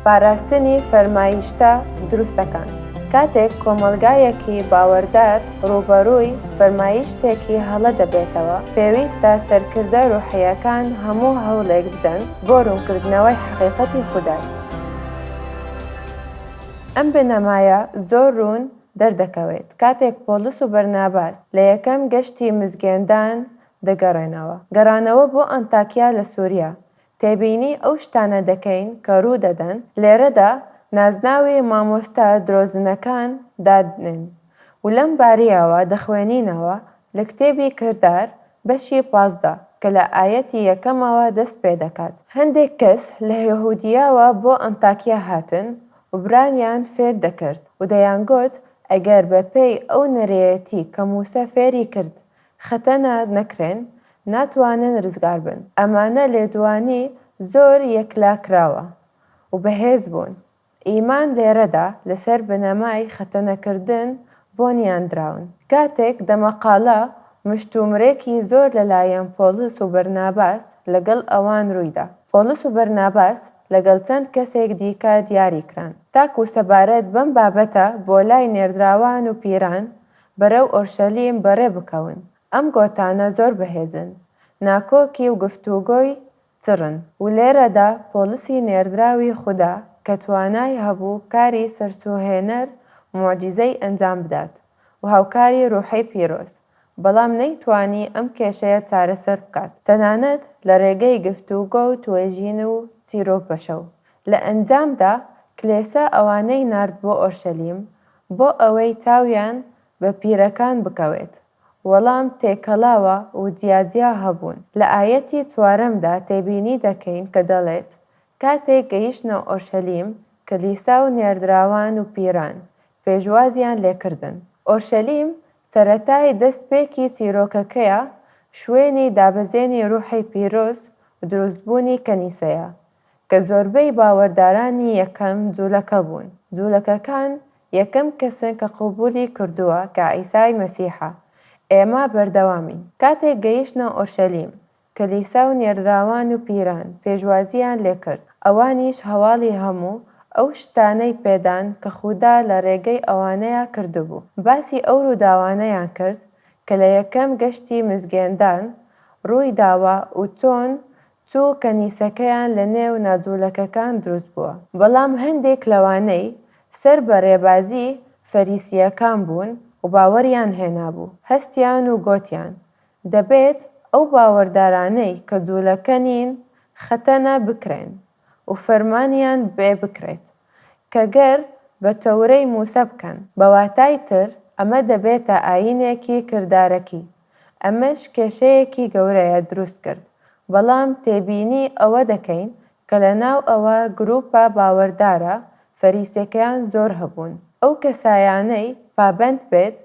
پاراستنی فەرمایشتە دروستەکان، کاتێک کۆمەڵگایەکی باوەردار ڕووبەڕووی فەرمایشتێکی هەڵە دەبێتەوە، پێویستە سەرکردە ڕووحییەکان هەموو هەوڵێک بدەن بۆ ڕوونکردنەوەی حەقیقەتی خودای. ئەم بنەمایە زۆر ڕوون دەردەکەوێت کاتێک پۆڵس و بەرناباس لە یەکەم گەشتی مزگێندان دەگەڕێنەوە. گەڕانەوە بۆ ئەنتاکیا لە سوریا، تێبینی ئەو شتانە دەکەین کە ڕوو دەدەن، لێرەدا نازناوی مامۆستا درۆزنەکان دادنێن و لەم بارییەوە دەخوێنینەوە لە کتێبی کردار بەشی پازدە کە لە ئایەتی یەکەمەوە دەست پێ دەکات، هەندێک کەس لە یەهودییەوە بۆ ئەنتاکیە هاتن و برانیان فێر دەکرد و دەیانگوت، ئەگەر بەپێی ئەو نەرێیەتی کە مووسا فێری کرد خەتەنە نەکرێن ناتوانن رزگار بن ئەمانە لێدوانی زۆر یەکلاکراوە و بەهێز بوون ئیمان لێرەدا لەسەر بنەمای خەتەنە کردن بۆنیان دراون کاتێک دەمەقاڵە مشتومرێکی زۆر لەلایەن پۆڵس و بەرناباس لەگەڵ ئەوان روویدا پۆڵس و بەرناباس لەگەڵ چەند کەسێک دیکە دیاری کران تاکو سەبارەت بەم بابەتە بۆ لای نێردراوان و پیران بەرەو ئۆرشەلیم بەڕێ بکەون. ئەم گۆتانە زۆر بەهێزن، ناکۆکی و گفتوگۆی چڕن. و لێرەدا پۆڵسی نێردراوی خودا کە توانای هەبوو کاری سەرسووهێنەر، موعجیزەی ئەنجام بدات و هاوکاری ڕوحی پیرۆز، بەڵام نەیتوانی ئەم کێشەیە چارەسەر بکات، تەنانەت لە ڕێگەی گفتوگۆ و توێژین و چیرۆپەشە و لە ئەنجامدا کلێسا ئەوانەی نارد بۆ ئۆرشەلیم بۆ ئەوەی تاویان بە پیرەکان بکەوێت، وەڵام تێکەڵاوە و جیاجیا هەبوون. لە ئایەتی چوارەمدا تێبینی دەکەین کە دەڵێت، کاتێک گەیشتنە ئۆرشەلیم، کلیسا و نێردراوان و پیران، پێشوازیان لێکردن. ئۆرشەلیم سەرەتای دەستپێکی چیرۆکەکەیە، شوێنی دابەزێنی روحی پیرۆز و دروستبوونی کەنیسەیە، کە زۆربەی باوەردارانی یەکەم جولەکە بوون، جولەکەکان یەکەم کەسن کە قبولی کردووە کە عیسای مەسیحە، ئێمە بەردەوامین، کاتێک گەیشتنە ئۆرشەلیم، کلیسا و نێردراوان و پیران پێشوازییان لێکرد، ئەوانیش هەواڵی هەموو ئەو شتانەی پێدان کە خودا لە رێگەی ئەوانەیا کردبوو، باسی ئەو رووداوانەیان کرد کە لە یەکەم گەشتی مزگێندان رووی داوە و چۆن چوو کەنیسەکەیان لە نێو ناجوولەکەکان دروست بووە. بەڵام هەندێک لەوانەی سەر بە رێبازی فەریسییەکان بوون و باوەریان هێنابوو، هەستیان و گۆتیان، دەبێت ئەو باوەردارانەی کە جوولەکە نین خەتەنە بکرێن و فەرمانیان بێ بکرێت کە گەر بە تەورەی مووسا بکەن، بە واتای تر ئەمە دەبێتە ئایینێکی کردارەکی. ئەمەش کێشەیەکی گەورەیە دروست کرد، بەڵام تێبینی ئەوە دەکەین کە لە ناو ئەوە گروپە باوەردارە فەریسیەکەیان زۆر هەبوون. ئەو کەسایانەی پابەند بێت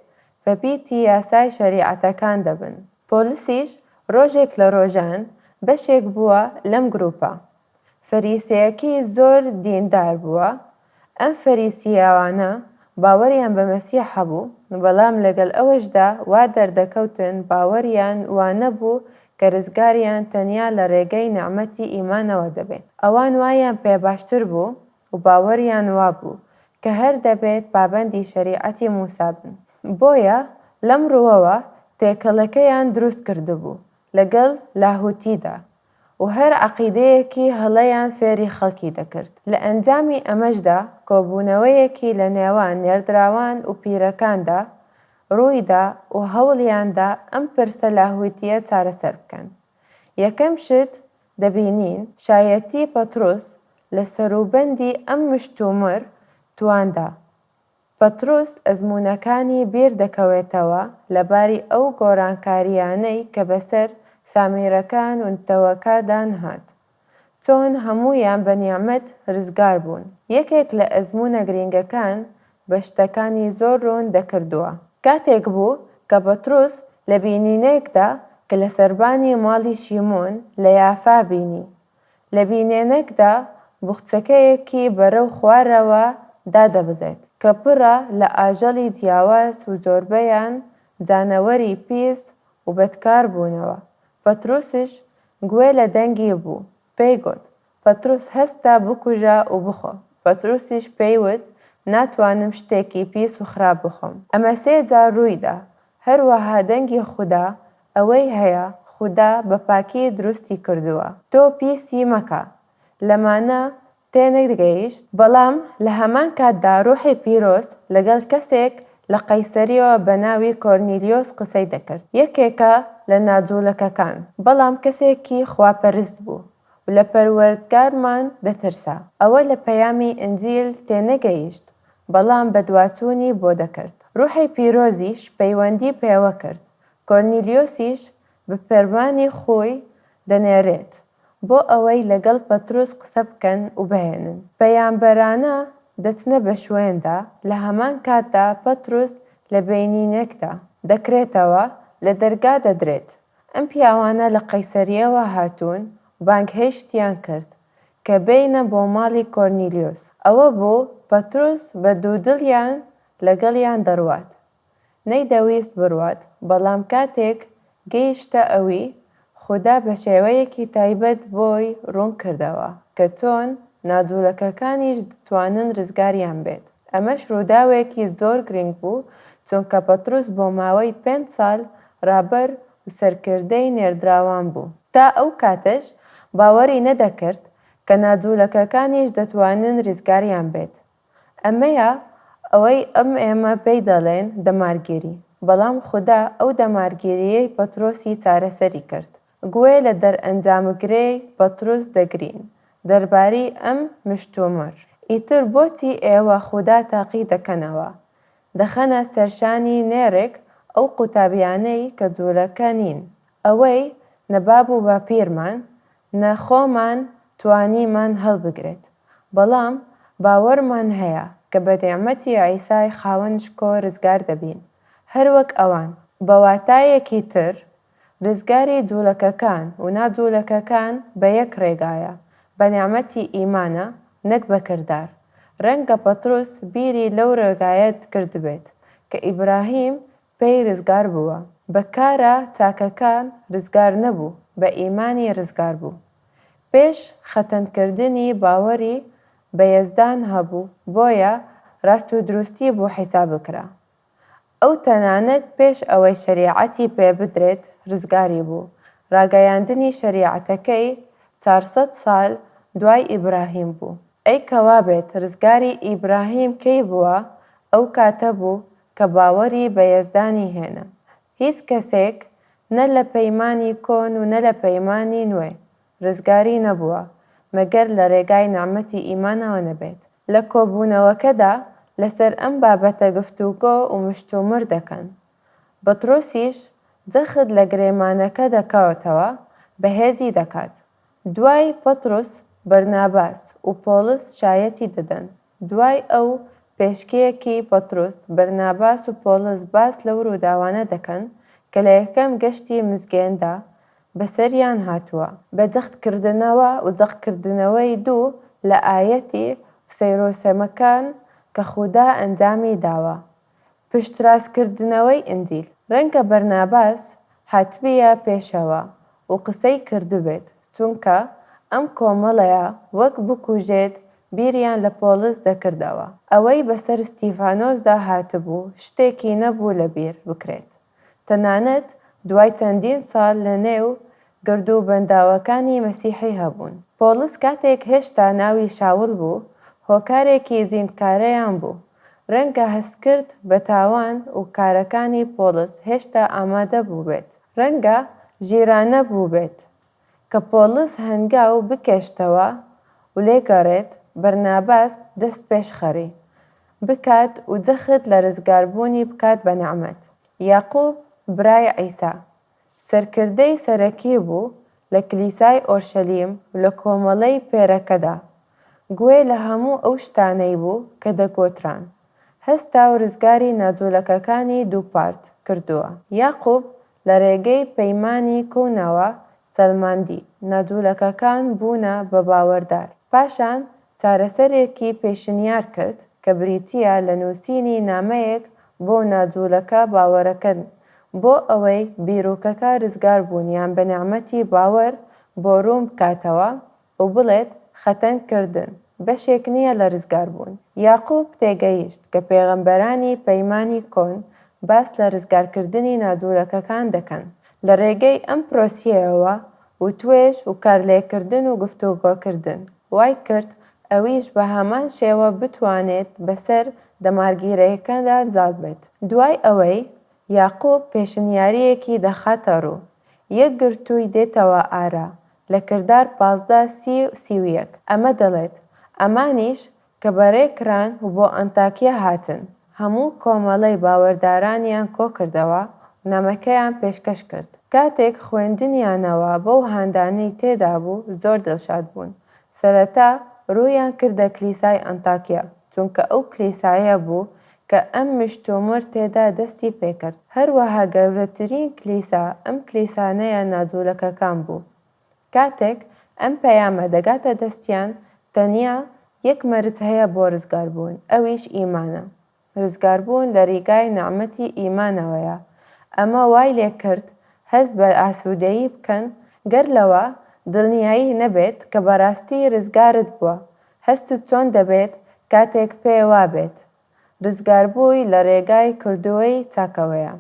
بە پیتی یاسای شەریعەتەکان دەبن. پۆلسیش ڕۆژێک لە ڕۆژان بەشێک بووە لەم گروپە، فەریسێەکی زۆر دیندار بووە، ئەم فەریسیێەوانە باوەریان بە مەسیح هەبوو، بەڵام لەگەڵ ئەوەشدا وا دەردەکەوتن باوەریان وا نەبوو کە رزگاریان تەنیا لە رێگەی نعمەتی ئیمانەوە دەبێت. ئەوان وایان پێ باشتر بوو و باوەریان وا بوو کە هەر دەبێت پابەندی شەریعەتی موسا بن. بۆیە لەم رووەوە تێکەڵەکەیان دروست کردبوو لەگەڵ لاهوتیدا، و هەر عەقیدەیەکی هەڵەیان فێری خەڵکی دەکرد، لە ئەنجامی ئەمەشدا کۆبوونەوەیەکی لە نێوان نێردراوان و پیرەکاندا ڕوویدا و هەوڵیاندا ئەم پرسە لاهووتییە چارەسەر بکەن. یەکەم شت دەبینین شایەتی پەتروس لە سەروبەندی ئەم مشتومڕ تواندا پەتروس ئەزموونەکانی بیر دەکەوێتەوە لەباری ئەو گۆرانکارییانەی کە بەسەر سامیرەکان و نەتەوەکە دا نهات، چۆن هەموویان بە نیعمەت رزگار بوون. یەکێک لە ئەزموونە گرینگەکان بە شتەکانی زۆر روون دەکردووە. کاتێک بوو کە پەتروس لە بینینێکدا کە لە سەربانی ماڵی شیمۆن لە یافا بینی، لە بینێنەکدا بوخچەکەیەکی بەرەو خوارەوە دادەبەزێت کە پڕە لە ئاژەڵی جیاواز و زۆربەیان جانەوەری پیس و بەدکار بوونەوە. پەتروسیش گوێ لە دەنگی بوو، پێی گوت، پەتروس هەستە بکوژە و بخۆ. پەتروسیش پێی وت، ناتوانم شتێکی پیس و خراپ بخۆم. ئەمە سێ جار ڕووی دا. هەروەها دەنگی خودا ئەوەی هەیە خودا بە پاکی دروستی کردووە تۆ پیسی مەکە لەمانە تێنەگەیشت، بەڵام لە هەمان کاتدا ڕوحی پیرۆز لەگەڵ کەسێک لە قەیسەریەوە بە ناوی کۆرنیلیۆس قسەی دەکرد یەکێکە لە ناجوڵەکەکان بەڵام کەسێکی خواپەرست بوو و لە پەروەردگارمان دەترسا ئەوە لە پەیامی ئنجیل تێنەگەیشت بەڵام بەدواچوونی بۆ دەکرد ڕوحی پیرۆزیش پەیوەندی پێوەکرد کۆرنیلیۆسیش بە پەروانەی خۆی دەنێرێت بۆ ئەوەی لەگەڵ پەترۆس قسە بکەن و بهێنن. پەیامبەرانە دەچنە بە شوێندا، لە هەمان کاتدا پەترۆس لە بەینینێکدا دەکرێتەوە، لە دەرگا دەدرێت. ئەم پیاوانە لە قەیسەرییەوە هاتوون و بانگهێشتیان کرد کە بێینە بۆ ماڵی کۆرنیلیۆس. ئەوە بوو پەترۆس بە دوودڵیان لەگەڵیان دەڕوات، نەیدەویست بڕوات، بەڵام کاتێک گەیشتە ئەوی، خودا بە شێوەیەکی تایبەت بۆی ڕوون کردەوە کە چۆن ناجوولەکەکانیش دەتوانن ڕزگاریان بێت. ئەمەش ڕووداوێکی زۆر گرنگ بوو، چونکە پەتروس بۆ ماوەی پێنج ساڵ ڕابەر و سەرکردەی نێردراوان بوو، تا ئەو کاتەش باوەری نەدەکرد کە ناجوولەکەکانیش دەتوانن ڕزگاریان بێت، ئەمەیە ئەوەی ئەم ئێمە پێی دەڵێن دەمارگێری، بەڵام خودا ئەو دەمارگێرییەی پەترۆسی چارەسەری کرد. گوێ لە دەرئەنجامگرەی پەترۆس دەگرین دەربارەی ئەم مشتومڕ. ئیتر بۆچی ئێوە خودا تاقی دەکەنەوە؟ دەخەنە سەرشانی نێرێک ئەو قوتابیانەی کە جوولەکە نین، ئەوەی نە باب و باپیرمان، نە خۆمان توانیمان هەڵبگرێت، بەڵام باوەڕمان هەیە کە بە نیعمەتی عیسای خاوەن شکۆ رزگار دەبین، هەروەک ئەوان. بە واتایەکی تر، رزگاری دوولەکەکان و نادوولەکەکان بە یەک رێگایە، بە نیعمەتی ئیمانە، نەک بە کردار. رەنگە پەتروس بیری لەو رێگایە کردبێت کە ئیبراهیم پێی ڕزگار بووە، بە کارە چاکەکان ڕزگار نەبوو، بە ئیمانی ڕزگار بوو. پێش خەتەن کردنی باوەڕی بە یەزدان هەبوو، بۆیە ڕاست و دروستی بۆ حیساب کرا. ئەو تەنانەت پێش ئەوەی شەریعەتی پێ بدرێت ڕزگاری بوو، ڕاگەیاندنی شەریعەتەکەی چار سەد سال دوای ئیبراهیم بوو. ئەی کە وابێت ڕزگاری ئیبراهیم کەی بووە، ئەو کاتە بوو کە باوەری بە یەزدانی هێنا. هیچ کەسێک نە لە پەیمانی کۆن و نە لە پەیمانی نوێ، رزگاری نەبووە، مەگەر لە رێگای نعمەتی ئیمانەوە نەبێت. لە کۆبوونەوەکەدا لەسەر ئەم بابەتە گفتوگۆ و مشتومڕ دەکەن. بطرسیش جەخت لە گرێمانەکە دەکاتەوە، بەهێزی دەکات. دوای پطرس، بەرناباس و پۆڵس شایەتی دەدەن. دوای ئەو پێشکێکی پەتروس، بەرناباس و پۆڵس باس لەو رووداوانە دەکەن کە لە یەکەم گەشتی مزگێندا بەسەریان هاتووە. بە جەختکردنەوە و جەقکردنەوەی دوو لە ئایەتی و سەیرو سەمەکان کە خودا ئەنجامی داوە پشتراستکردنەوەی ئینجیل، ڕەنگە بەرناباس هاتبیە پێشەوە و قسەی کردبێت، چونکە ئەم کۆمەڵەیە وەک بکوژێت بیریان لە پۆڵس دەکردەوە، ئەوەی بەسەر ستیڤانۆسدا هاتبوو شتێکی نەبوو لەبیر بکرێت. تەنانەت دوای چەندین ساڵ لە نێو گرد و بەنداوەکانی مەسیحی هەبوون. پۆڵس کاتێک هێشتا ناوی شاول بوو، هۆکارێکی زیندکارەیان بوو. ڕەنگە هەستکرد بە تاوان و کارەکانی پۆڵس هێشتا ئامادە بووبێت. ڕەنگە ژیرانە بووبێت کە پۆڵس هەنگاو بکێشتەوە و لێ گەڕێت، بەرناباس دەست پێش خەری. بکات و جەخت لە رزگاربوونی بکات بە نعمەت. یاقوب برای عیسا، سەرکردەی سەرەکی بوو لە کلیسای ئۆرشەلیم و لە کۆمەڵەی پێرەکەدا، گوێ لە هەموو ئەو شتانەی بوو کە دەگۆتران. هەستا و رزگاری ناجوولەکەکانی دووپات کردووە. یاقوب لە رێگەی پەیمانی کۆنەوە سەلماندی، نادولەکەکان بوونە بە باوەردار، پاشان چارەسەرێکی پێشنیار کرد کە بریتییە لە نووسینی نامەیەک بۆ نادولەکە باوەرەکەن بۆ ئەوەی بیرۆکەکە رزگاربوونیان بە نێعمەتی باوەر بۆ روون بکاتەوە و بڵێت، خەتەنگ کردن، بەشێک نییە لە رزگار بوون. یاقوب تێگەیشت کە پێغەمبەرانی پەیمانی کۆن باس لە رزگار کردنی نادوورەکەکان دەکەن لە رێگەی ئەم پرۆسیەیەوە و توێژ و کارلێککردن و گفتوگۆکردن وای کرد ئەویش بە هەمان شێوە بتوانێت بە سەر دەمارگیرەیەکەدا زاڵ بێت. دوای ئەوەی یاقوب پێشنیاریەکی دەخاتە روو، یەکگرتووی دێتەوە ئارا لە کردار پازدە سی و سی و یەک ئەمە دەڵێت، ئەمانیش کە بەرێ کران و بۆ ئەنتاکیە هاتن، هەموو کۆمەڵەی باوەردارانیان کۆ کردەوە و نامەکەیان پێشکەش کرد. کاتێک خوێندنیانەوە بەو هاندانەی تێدا بوو زۆر دڵشاد بوون، سەرەتا روویان کردە کلیسای ئەنتاکیە، چونکە ئەو کلیسایە بوو کە ئەم مشتومڕ تێدا دەستی پێکرد، هەروەها گەورەترین کلیسا ئەم کلیسانەیە ناجوولەکەکان بوو. کاتێک ئەم پەیامە دەگاتە دەستیان، تەنیا یەک مەرج هەیە بۆ ڕزگاربوون، ئەویش ئیمانە. ڕزگاربوون لە ڕیگای نعمەتی ئیمانەوەیە. ئەمە وای لێکرد هەست بە ئاسوودەیی بکەن، گەر لەوە دڵنیایت نەبێت کە بەڕاستی ڕزگارت بووە، هەستت چۆن دەبێت کاتێک پێێ وابێت رزگاربووی لە رێگای کردوەی چاکەوەیە؟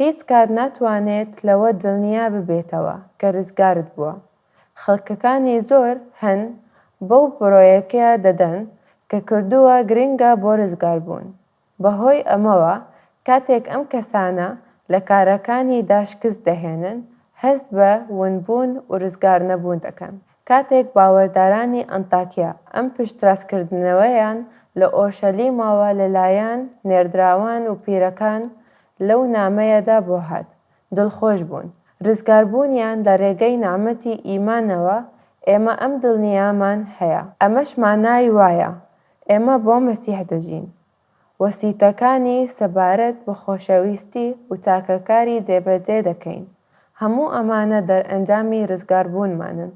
هیچ کات ناتوانێت لەوە دلنیا ببێتەوە کە رزگارت بووە. خەلکەکانی زۆر هەن بەو برۆیەکە دەدەن کە کردوە گرنگە بۆ رزگاربوون. بەهۆی ئەمەوە کاتێک ئەم کەسانە لە کارەکانیدا شکست دەهێنن، هەست بە ونبوون ورزگارنەبوون دەکەن. کاتێک باوەردارانی ئەنتاکیا ئەم پشتراستکردنەوەیان لە ئۆرشەلیمەوە لەلایەن نێردراوان و پیرەکان لەو نامەیەدا بۆ هات، دڵخۆش بوون. رزگاربوونیان لە رێگەی نامەتی ئیمانەوە ئێمە ئەم دڵنیامان هەیە. ئەمەش مانای وایە ئێمە بۆ مەسیح دەژین. وەسیتەکانی سەبارەت بە خۆشەویستی و تاکەکاری جێبەجێ دەکەین. هەموو ئەمانە دەرئەنجامی رزگاربوونمانن.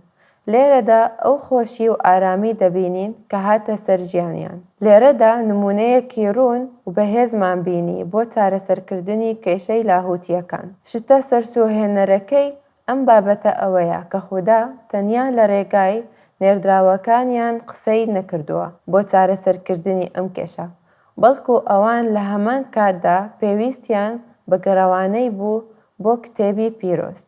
لێرەدا ئەو خۆشی و ئارامی دەبینین کە هاتە سەر ژیانیان. لێرەدا نموونەیەکی روون و بەهێزمان بینی بۆ چارەسەرکردنی کێشەی لاهووتییەکان. شتە سەرسووڕهێنەرەکەی ئەم بابەتە ئەوەیە کە خودا تەنیا لە رێگای نێردراوەکانیان قسەی نەکردووە بۆ چارەسەرکردنی ئەم کێشە، بەڵکو ئەوان لە هەمان کاتدا پێویستیان بە گەڕەوانەی بوو بۆ کتێبی پیرۆز،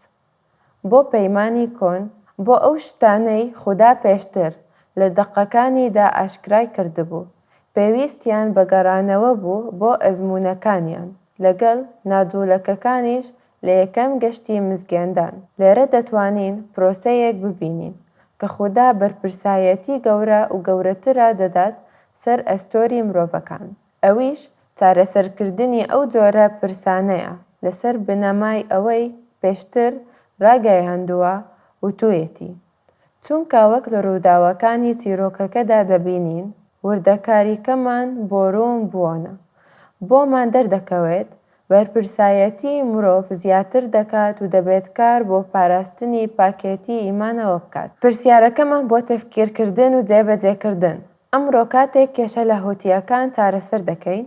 بۆ پەیمانی کۆن، بۆ ئەو شتانەی خودا پێشتر لە دەقەکانیدا ئاشکرای کردبوو، پێویستیان بە گەڕانەوە بوو بۆ ئەزموونەکانیان، لەگەڵ ناجوولەکەکانیش لە یەکەم گەشتی مزگێندان. لێرە دەتوانین پرۆسەیەک ببینین کە خودا بەرپرسایەتی گەورە و گەورەترە دەدات سەر ئەستۆری مرۆڤەکان، ئەویش چارەسەرکردنی ئەو جۆرە پرسانەیە لەسەر بنەمای ئەوەی پێشتر راگەیاندووە وتوویەتی، چونکە وەک لە رووداوەکانی چیرۆکەکەدا دەبینین، وردەکاریکەمان بۆ روون بووانە. بۆمان دەردەکەوێت، بەرپرسایەتیی مرۆڤ زیاتر دەکات و دەبێت کار بۆ پاراستنی پاکێتیی ئیمانەوە بکات. پرسیارەکەمان بۆ تەفکیرکردن و جێبەجێکردن، ئەمڕۆ کاتێک کێشە لاهوتییەکان چارەسەر دەکەین،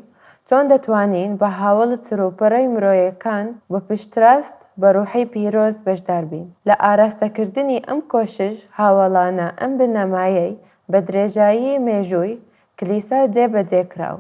چۆن دەتوانین بە هاوەڵت سروپڕی مرۆیەکان بە پشتراست بە ڕوحی پیرۆز بەشدار بین لە ئاراستەکردنی ئەم کۆشش هاوەڵانە ئەم بنەمایەی بە درێژایی مێژووی کلیسا جێ بە جێ کرا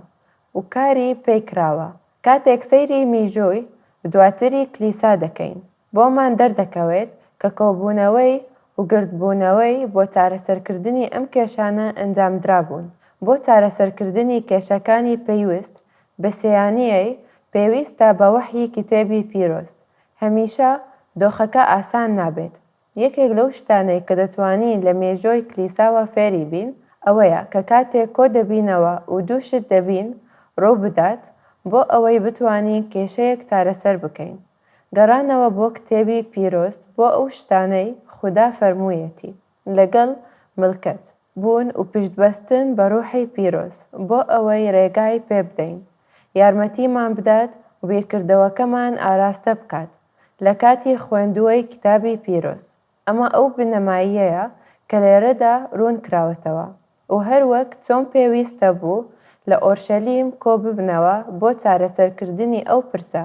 و کاری پێی کراوە کاتێک سەیری میژووی دواتری کلیسا دەکەین بۆمان دەردەکەوێت کە کۆبوونەوەی و گردبوونەوەی بۆ چارەسەرکردنی ئەم کێشانە ئەنجامدرابوون، بۆ چارەسەرکردنی کێشەکانی پەیوست بە سێیانیی پێویستە بە وەحیی کتێبی پیرۆز. هەمیشە دۆخەکە ئاسان نابێت. یەکێک لەو شتانەی کە دەتوانین لە مێژۆی کلیساوە فێری بین ئەوەیە کە کاتێک کۆ دەبینەوە و دوو شت دەبین ڕوو بدات بۆ ئەوەی بتوانین کێشەیەک چارەسەر بکەین، گەڕانەوە بۆ کتێبی پیرۆز بۆ ئەو شتانەی خودا فەرموویەتی لەگەڵ، ملکەچ، بوون و پشت بەستن بە ڕوحی پیرۆز بۆ ئەوەی ڕێگای پێ بدەین یارمەتیمان بدات و بیرکردەوەکەمان ئاراستە بکات لە کاتی خوێندوەی کتابی پیرۆز ئەمە ئەو بنەماییەیە کە لێرەدا روون کراوەتەوە و هەروەک چۆن پێویستە بوو لە ئۆرشەلیم کۆ ببنەوە بۆ چارەسەرکردنی ئەو پرسە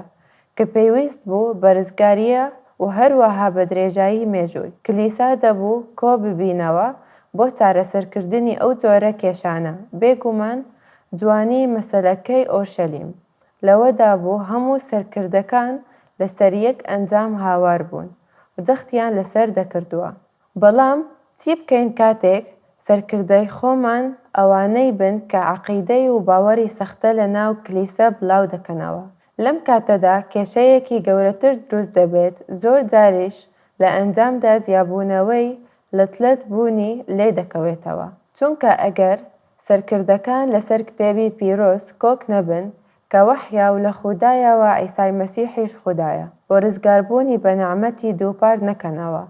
کە پێویست بوو بە رزگارییە و هەروەها بە درێژایی مێژووی کلیسا دەبوو کۆ ببینەوە بۆ چارەسەرکردنی ئەو جۆرە کێشانە، بێگومان جوانیی مەسەلەکەی ئۆرشەلیم. لەوەدا بوو هەموو سەرکردەکان لەسەر یەک ئەنجام هاوار بوون و جەختیان لەسەر دەکردوە. بەڵام چی بکەین کاتێک سەرکردەی خۆمان ئەوانەی بن کە عەقیدەی و باوەری سەختە لەناو کلیسە بڵاو دەکەنەوە. لەم کاتەدا کێشەیەکی گەورەتر دروست دەبێت زۆر جاریش لە ئەنجامدا جیابوونەوەی لەتلەت بوونی لێ دەکەوێتەوە چونکە ئەگەر سەرکردەکان لەسەر کتێبی پیرۆز کۆک نەبن کە وەحیە و لە خودایە و عیسای مەسیحیش خودایە بۆ رزگاربوونی بە نەعمەتی دووپات نەکەنەوە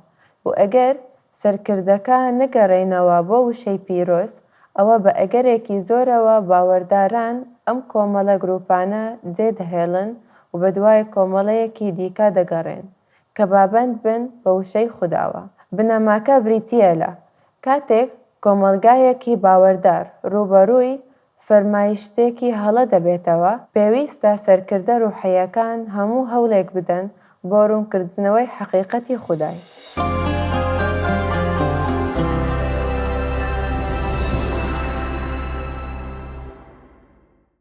و ئەگەر سەرکردەکە نەگەرێنەوە بۆ وشەی پیرۆز ئەوە بە ئەگەرێکی زۆرەوە باوەرداران ئەم کۆمەڵە گروپانە جێ دەهێڵن و بەدوای کۆمەڵەیەکی دیکە دەگەڕێن کە بابەند بن بە وشەی خوداوە. بنەماکە بریتییە لە، کاتێک کۆمەڵگایەکی باوەردار ڕووبەڕووی فەرمایشتێکی هەڵە دەبێتەوە، پێویستە سەرکردە ڕوحییەکان هەموو هەوڵێک بدەن بۆ ڕوونکردنەوەی حەقیقەتی خودای.